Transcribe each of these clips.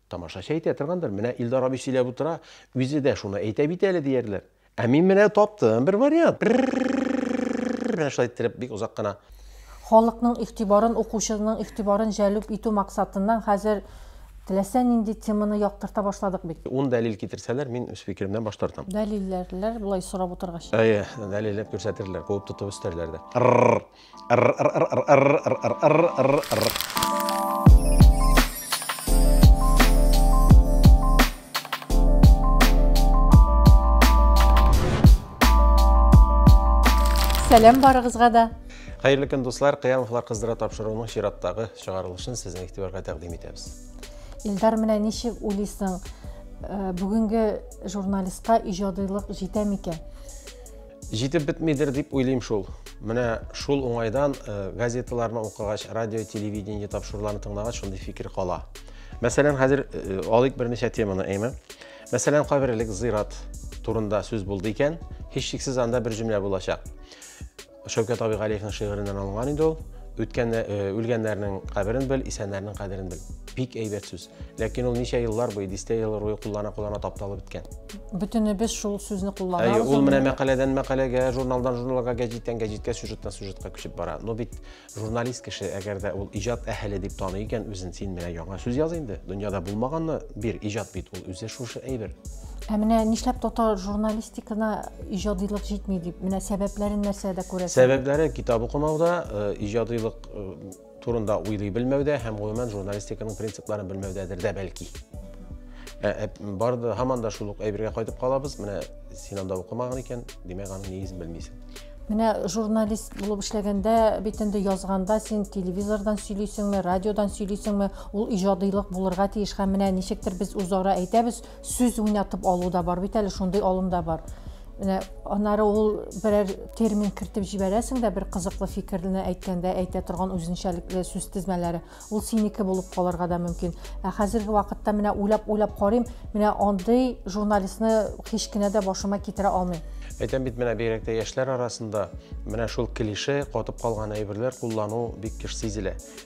Тамашачы әйтә торгандыр, менә Илдар абый сөйләп утыра, үзе дә шуны әйтә бит әле диярләр. Ә мин менә таптым бер вариант. Менә шулай иттереп бик озак кына. Халыкның игътибарын, укучының игътибарын җәлеп итү максатыннан хәзер теләсә нинди теманы яктырта башладык бит. Ун дәлил китерсәләр, мин үз фикеремнән баш тартам. Дәлилләрләр, болай сорап утыргач. Әйе, дәлилләп күрсәтерләр, куып тотып өстәрләр дә. Ррр. Сәлам барыгызга да. Хәерле көн дуслар, Кыямовлар кыздыра тапшыруының чираттагы чыгарылышын сезнең игътибарга тәкъдим итәбез. Илдар менә ничек уйлыйсың, э, бүгенге журналистка иҗадыйлык җитә микән? Җитеп бетмидер дип уйлыйм шул. Менә шул уңайдан э, газеталарны укыгач, радио, телевидение тапшыруларын тыңлагач, шундый фикер кала. Мәсәлән, хәзер э, алыйк берничә теманы, әйме. Мәсәлән, каберлек зират турында сүз булды икән, һичшиксез анда бер җөмлә булачак. Шәүкәт абый Галиевның шигыреннән алынган инде ул. Үткән э, үлгәннәрнең каберен бел, исәннәрнең кадерен бел. Бик әйбәт сүз. Ләкин ул ничә еллар буе, дистә ел буе куллана-куллана тапталып беткән. Бөтенебез шул сүзне кулланабыз. Әйе, ул менә мәкаләдән мәкаләгә, журналдан журналга, гәҗиттән гәҗиткә, сюжеттан сюжетка күчеп бара. Но бит журналист кеше, әгәр дә ул иҗат әһеле дип таный икән үзен, син менә яңа сүз яз инде. Дөньяда булмаганны бир, иҗат бит ул үзе шушы әйбер. Ә менә нишләп татар журналистикана иҗадилык җитми дип, менә сәбәпләрен нәрсәдә күрәсең? Сәбәпләре китап укымауда, э, иҗадилык э, турында уйлый белмәүдә һәм гомумән журналистиканың принципларын белмәүдәдер дә бәлки. Ә, ә, бар да һаман да шул ук әйбергә кайтып калабыз. Менә син анда укымаган икән, димәк аның нигезен белмисең. Менә журналист булып эшләгәндә бит инде язганда син телевизордан сөйлисеңме, радиодан сөйлисеңме, ул иҗадыйлык булырга тиеш һәм менә ничектер без үзара әйтәбез, сүз уйнатып алу да бар бит әле шундый алым да бар менә анары ул берәр термин кертеп җибәрәсең дә бер кызыклы фикерне әйткәндә әйтә торган үзенчәлекле сүз тезмәләре ул синеке булып калырга да мөмкин ә хәзерге вакытта менә уйлап уйлап карыйм менә андый журналистны һич кенә дә башыма китерә алмыйм әйтәм бит менә бигрәк тә яшьләр арасында менә шул клише катып калган әйберләр куллану бик еш сизелә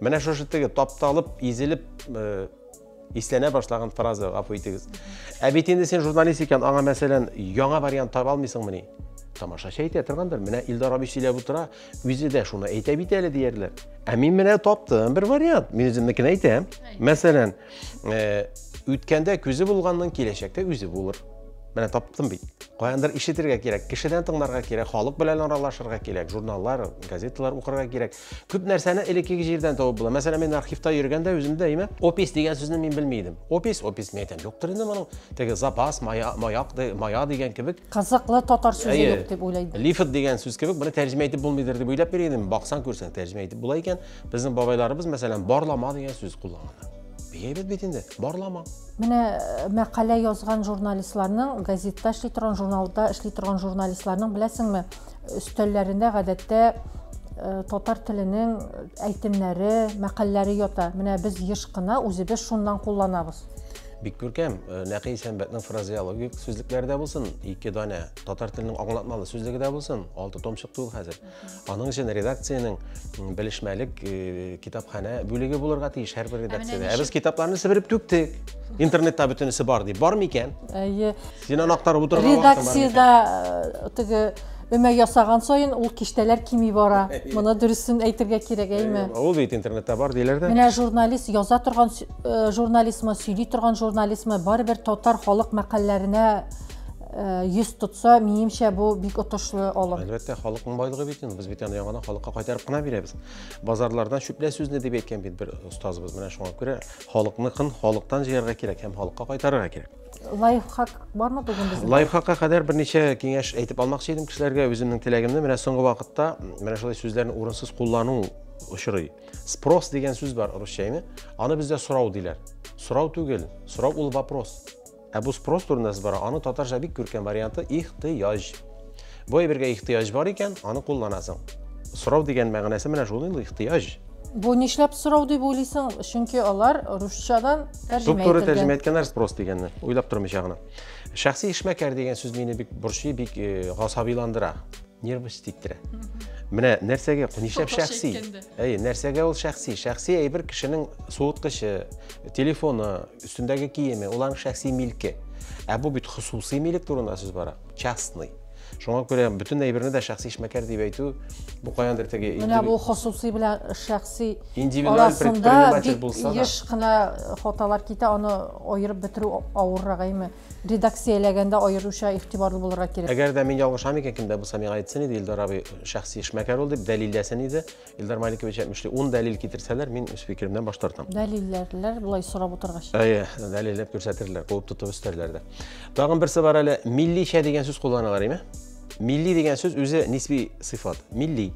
Менә шушы теге тапталып, изелеп э, исләнә башлаган фраза, гафу итегез. Ә бит инде син журналист икән, аңа мәсәлән, яңа вариант таба алмыйсыңмыни? Тамашачы әйтә торгандыр, менә Илдар абый сөйләп утыра, үзе дә шуны әйтә бит әле диярләр. Ә мин менә таптым бер вариант, мин үземнекен әйтәм. Мәсәлән, э, үткәндә күзе булганның киләчәктә үзе булыр. Менә таптым бит. Каяндыр ишетергә кирәк, кешедән тыңларга кирәк, халык белән аралашырга кирәк, журналлар, газеталар укырга кирәк. Күп нәрсәне элеккеге җирдән табып була. Мәсәлән, мин архивта йөргәндә үземдә әйме, опис дигән сүзне мин белми идем. Опис, опис мин әйтәм, юктыр инде моның. Теге запас, мая, маяк, мая дигән кебек. Кызыклы татар сүзе юк дип уйлыйм. Лифт дигән сүз кебек, моны тәрҗемә итеп булмыйдыр дип уйлап йөри идем. Баксаң, күрсәң, тәрҗемә итеп була икән. Безнең бабайларыбыз, мәсәлән, барлама дигән сүз кулланган. Бигәйбәт бит инде, барлама. Менә э, мәкалә язган журналистларның, газетта эшли торган, журналда эшли торган журналистларның, беләсеңме, өстәлләрендә гадәттә э, татар теленең әйтемнәре, мәкальләре ята. Менә без еш кына үзебез шуннан кулланабыз. Бик күркәм, э, Нәкый Сәнбәтнең фразеологик сүзлекләре дә булсын, ике данә татар теленең аңлатмалы сүзлеге дә булсын, алты том чыкты ул хәзер. Аның өчен редакциянең белешмәлек э, китапханә бүлеге булырга тиеш һәрбер редакциядә. Ә без китапларны себереп түктек. Интернетта бөтенесе бар дип. Бар микән? Әйе. Син аны актарып утырган вакытың бар микән? Редакциядә э, теге өмә ясаган саен ул киштәләр кими бара. Моны дөресен әйтергә кирәк, әйме? Ул бит интернетта бар диләр дә. Менә журналист яза торган сө- э, журналистмы, сөйли торган журналистмы, барыбер татар халык мәкальләренә э, йөз тотса, минемчә бу бик отышлы алым. Әлбәттә, халыкның байлыгы бит инде. Без бит аны яңадан халыкка кайтарып кына бирәбез. Базарлардан чүплә сүзне дип әйткән бит бер остазыбыз. Менә шуңа күрә халыкныкын халыктан җыярга кирәк һәм халыкка кайтарырга кирәк. лайфхак бармы бүгін біздің лайфхакка кадәр бірнеше кеңеш әйтеп алмакчы едім кешеләргә үзімнің теләгемне менә соңгы вакытта менә шулай сүзләрне урынсыз куллану очрый спрос деген сүз бар русча әйме аны бездә сорау диләр сорау түгел сорау ул вопрос ә бу спрос турында сүз бара аны татарча бик күркәм варианты ихтыяҗ Бу әйбергә ихтыяҗ бар икән, аны кулланасың. Сорау дигән мәгънәсе менә шул инде ихтыяҗ. Бу нишләп сорау дип уйлыйсың? Чөнки алар русчадан тәрҗемә ителгән. тәрҗемә иткәннәр спрос дигәнне, уйлап тормыйча гына. Шәхси эшмәкәр дигән сүз мине бик борчый, бик э, гасабиландыра, нервс тиктерә. Менә нәрсәгә, нишләп шәхси? Әйе, нәрсәгә ул шәхси? Шәхси әйбер кешенең суыткычы, телефоны, өстендәге киеме, уларның шәхси милке. Ә бу бит хосусый милек турында сүз бара. частный. Шуңа күрә бөтен әйберне дә шәхси эшмәкәр дип әйтү бу каяндыр теге Менә бу хосусый белән шәхси индивидуаль предприниматель булса да. Еш кына хаталар китә, аны аерып бетерү авыррак әйме. Редакцияләгәндә аеруча игътибарлы булырга кирәк. Әгәр дә мин ялгышам икән, кемдә булса миңа әйтсен иде, Илдар абый шәхси эшмәкәр ул дип дәлилләсен иде. Илдар Маликович әйтмешли, ун дәлил китерсәләр, мин үз фикеремнән баш тартам. Дәлилләрләр болай сорап утыргач. Әйе, дәлилләп күрсәтерләр, куып тотып өстәрләр дә. Тагын берсе бар әле, милличә дигән сүз кулланалар, име? Милли дигән сүз үзе нисби сыйфат. Милли.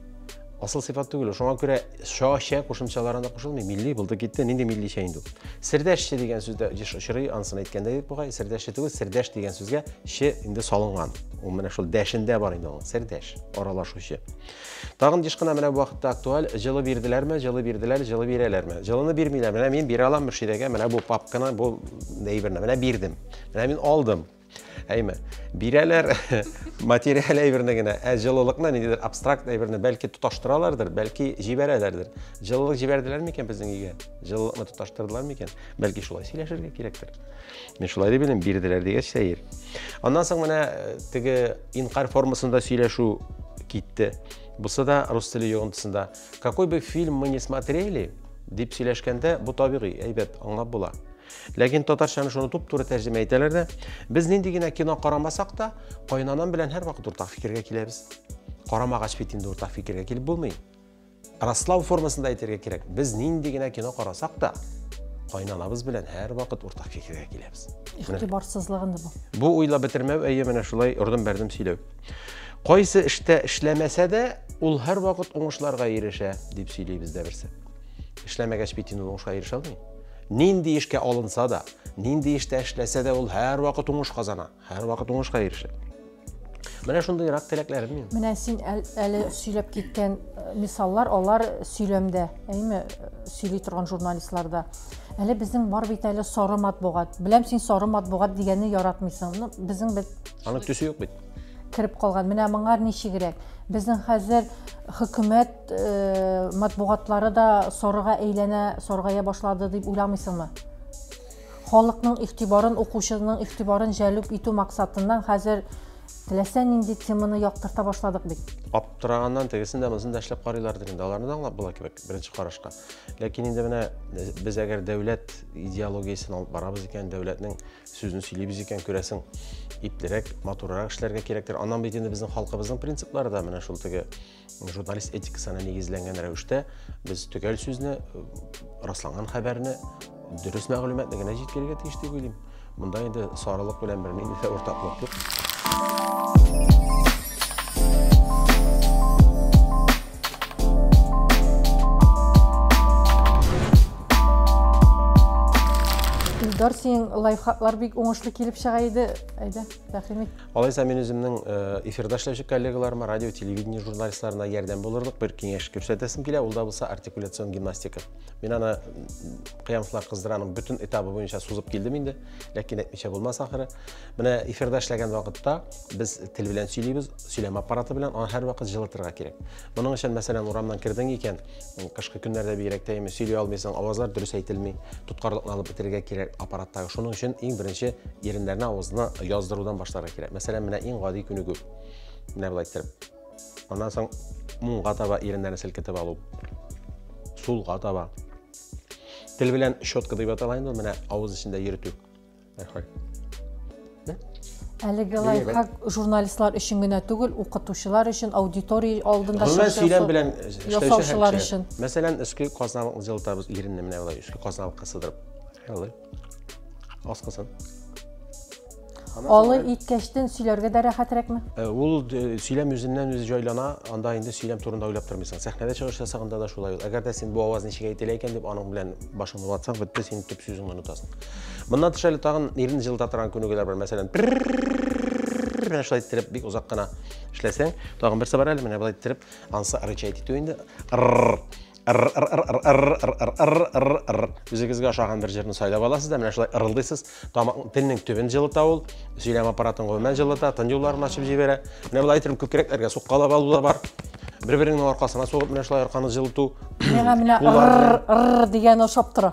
Асыл сыйфат түгел. Шуңа күрә ша, шә кушымчаларына кушылмый. Милли булды китте, нинди милличә инде. Сердәшче дигән сүздә еш очрый, ансын әйткәндә дип бугай. Сердәшче түгел, сердәш дигән сүзгә че инде салынган. Ул менә шул дәшендә бар инде ул. Сердәш, аралашучы. Тагын еш кына менә бу вакытта актуаль, җылы бирделәрме, җылы бирделәр, җылы бирәләрме? Җылыны бирмиләр. Менә мин бирә алам Мөршидәгә менә бу папканы, бу әйберне. Менә бирдем. Менә мин алдым. Әйме, бирәләр материаль әйберне генә, ә җылылыкны ниндидер абстракт әйберне бәлки тоташтыралардыр, бәлки җибәрәләрдер. Җылылык җибәрделәр микән безнең өйгә? Җылылыкны тоташтырдылар микән? Бәлки шулай сөйләшергә кирәктер. Мин шулай дип белем бирделәр дигәч сәер. Аннан соң менә э, теге инкар формасында сөйләшү китте. Бусы да рус теле йогынтысында. Какой бы фильм мы не смотрели, дип сөйләшкәндә бу табигый, әйбәт, аңлап була. Ләкин татарчаны шуны туп-туры тәрҗемә итәләр дә, без нинди генә кино карамасак та, кайнанам белән һәрвакыт уртак фикергә киләбез. Карамагач бит инде уртак фикергә килеп булмый. Раслау формасында әйтергә кирәк, без нинди генә кино карасак та, кайнанабыз белән һәрвакыт уртак фикергә киләбез. Игътибарсызлыгын бу. Бу уйлап бетермәү, әйе, менә шулай ордым-бәрдем сөйләү. Кайсы эштә эшләмәсә дә, ул һәрвакыт уңышларга ирешә, дип сөйли бездә берсе. Эшләмәгәч бит инде уңышка ирешә алмый. Нинди эшкә алынса да, нинди эштә эшләсә дә, ул һәрвакыт уңыш казана. Һәрвакыт уңышка ирешә. Менә шундый рак теләкләрем мин. Менә син әле сөйләп киткән э, мисаллар, алар сөйләмдә, әйме, э, сөйли торган журналистларда. Әле безнең бар бит әле сары матбугат. Беләм син сары матбугат дигәнне яратмыйсың. Ну, безнең бит Аның төсе юк бит. Кереп калган. Менә моңар ничегрәк. Безнең хәзер хөкүмәт э, матбугатлары да сарыга әйләнә, саргая башлады дип уйламыйсыңмы? Халыкның игътибарын, укучының игътибарын җәлеп итү максатыннан хәзер теләсә нинди теманы яктырта башладык бит. Аптыраганнан тегесен дә, монысын да эшләп карыйлардыр инде, аларны да аңлап була кебек, беренче карашка. Ләкин инде менә без әгәр дәүләт идеологиясен алып барабыз икән, дәүләтнең сүзен сөйлибез икән, күрәсең, иплерәк, матуррак эшләргә кирәктер. Аннан бит инде безнең халкыбызның принциплары да менә шул теге Журналист этикасына нигезләнгән рәвештә без төгәл сүзне, расланган хәбәрне, дөрес мәгълүматны генә җиткерергә тиеш дип уйлыйм. Монда инде сарылык белән бер нинди дә уртаклык юк. Илдар, синең лайфхаклар бик уңышлы килеп чыга иде. Әйдә, тәкъдим ит. Алайса мин үземнең э, эфирда эшләүче коллегаларыма, радио, телевидение журналистларына ярдәм булырлык бер киңәш күрсәтәсем килә, ул да булса артикуляцион гимнастика. Мин аны Кыямовлар кыздыраның бөтен этабы буенча сузып килдем инде, ләкин әйтмичә булмас ахыры. Менә эфирда эшләгән вакытта без тел белән сөйлибез, сөйләм аппараты белән, аны һәрвакыт җылытырга кирәк. Моның өчен, мәсәлән, урамнан кердең икән, Кышкы көннәрдә бигрәк тә именно сөйли алмыйсың, авазлар дөрес әйтелми. Тоткарлыкны алып бетерергә кирәк аппараттагы. Шуның өчен иң беренче иреннәрне авызны яздырудан башларга кирәк. Мәсәлән, менә иң гади күнегү. Менә болай иттереп. Аннан соң муңга таба иреннәрне селкетеп алу. Сулга таба. Тел белән щетка дип атала инде, менә авыз эчендә йөртү. Рәхмәт. Әлеге лайфхак журналистлар өчен генә түгел, укытучылар өчен, аудитория алдында сөйләм белән ясаучылар өчен. Мәсәлән, өске казналыкны җылытабыз, иренне менә болай өске казналыкка сыдырып. Алый. Аскысын. Алый иткәчтен сөйләргә дә рәхәтрәкме? Э, ул э, сөйләм үзеннән үзе җайлана, анда инде сөйләм турында уйлап тормыйсың. Сәхнәдә чыгыш ясаганда да шулай ул. Әгәр дә син бу аваз ничек әйтелә икән дип аның белән башыңны ватсаң, бетте, син төп сүзеңне онытасың. Моннан тыш әле тагын ирен җылыта торган күнегүләр бар. Мәсәлән, менә шулай иттереп бик озак кына эшләсәң, тагын берсе бар әле, менә болай иттереп, ансы рычать итү инде. Үзегезгә ошаган бер җырны сайлап аласыз да, менә шулай ырылдыйсыз. Тамак телнең төбен җылыта ул, сөйләм аппаратын гомумән җылыта, тын юлларын ачып җибәрә. Менә болай итеп күкрәкләргә суккалап алу да бар. Бер-береңнең аркасына сугып, менә шулай арканы җылыту. Миңа менә ыр дигән ошап тора.